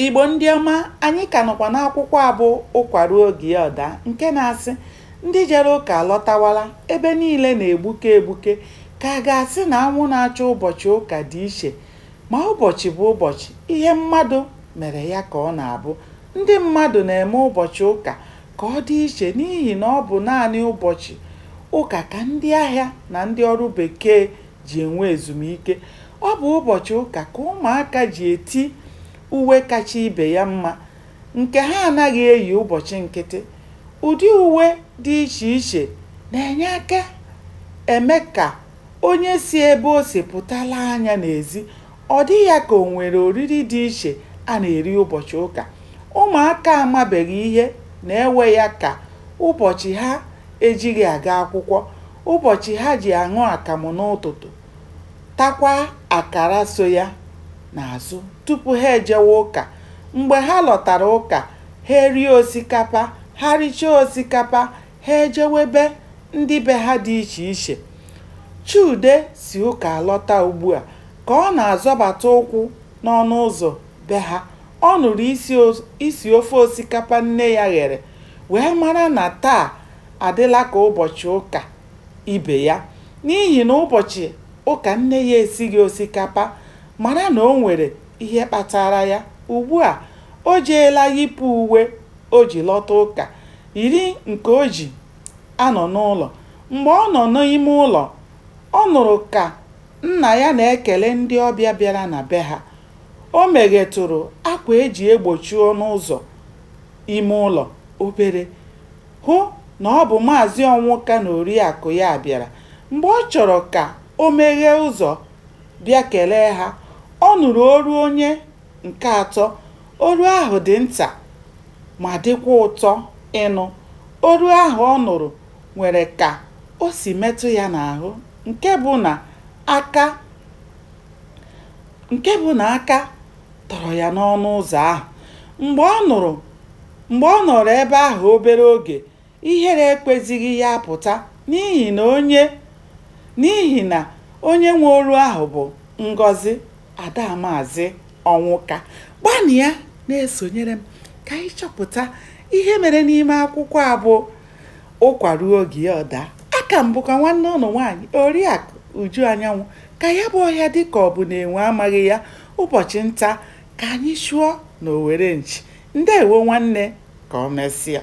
Igbo ndị ọma, anyị ka nọkwa n'akwụkwọ a bụ Ụkwa Ruo Oge Ya Ọ Daa nke na-asị ndị jere ụka alọtawala, ebe niile na-egbuke egbuke ka a ga-asị na anwụ na-acha ụbọchị ụka dị iche. Ma ụbọchị bụ ụbọchị, ihe mmadụ mere ya ka ọ na-abụ. Ndị mmadụ na-eme ụbọchị ụka ka ọ dị iche n'ihi na ọ bụ naanị ụbọchị ụka ka ndị ahịa na ndị ọrụ bekee ji enwe ezumike. Ọ bụ ụbọchị ụka ka ụmụaka ji eti uwe kacha ibe ya mma nke ha anaghị eyi ụbọchị nkịtị. Ụdị uwe dị iche iche na-enye aka eme ka onye si ebe o si pụta lee anya n'ezi. Ọ dị ya ka o nwere oriri dị iche a na-eri ụbọchị ụka. Ụmụaka amabeghị ihe na-ewe ya ka ụbọchị ha ejighị aga akwụkwọ, ụbọchị ha ji aṅụ akamụ n'ụtụtụ, takwa akara so ya n'azụ tupu ha ejewe ụka. Mgbe ha lọtara ụka, ha erie osikapa. Ha richaa osikapa, Ha ejewe be ndị be ha dị iche iche. Chude si ụka alọta ugbua. Ka ọ na-azọbata ụkwụ n'ọnụ ụzọ be ha, ọ nụrụ isi ofe osikapa nne ya ghere wee mara na taa adịla ka ụbọchị ụka ibe ya. N'ihi na ụbọchị ụka nne ya esighị osikapa, mara na o nwere ihe kpatara ya. Ugbua, o jeela yipụ uwe o ji lọta ụka, yiri nke o ji anọ n'ụlọ. Mgbe ọ nọ n'ime ụlọ, ọ nụrụ ka nna ya na-ekele ndị ọbịa bịara na be ha. O meghetụrụ akwa e ji egbochi ọnụ ụzọ ime ụlọ obere, hụ na ọ bụ Maazị Ọnwụka na Oriakụ ya bịara. Mgbe ọ chọrọ ka o meghee ụzọ bịa kelee ha, ọ nụrụ olu onye Nke atọ, olu ahụ dị nta ma dịkwa ụtọ ịnụ. Olu ahụ ọ nụrụ nwere ka o si metụ ya n'ahụ nke bụ na aka tọrọ ya n'ọnụ ụzọ ahụ. Mgbe ọ nụrụ mgbe ọ nọrọ ebe ahụ obere oge, Ihere ekwezighị ya apụta n'ihi na onye n'ihi na onye nwe olu ahụ bụ Ngọzi ada Maazị Ọnwụka. Gbanịa na-esonyere m ka anyị chọpụta ihe mere n'ime akwụkwọ a bụ Ụkwa ruo oge ya ọ daa. Aka m bụkwa nwanne ụnụ nwaanyị Oriakụ Uju Anyanwụ. Ka ya bụ ọhịa dị ka ọ bụ na enwe amaghị ya, ụbọchị nta ka anyị chụọ n'owere nchi. Ndeewo nwanne, ka o mesịa.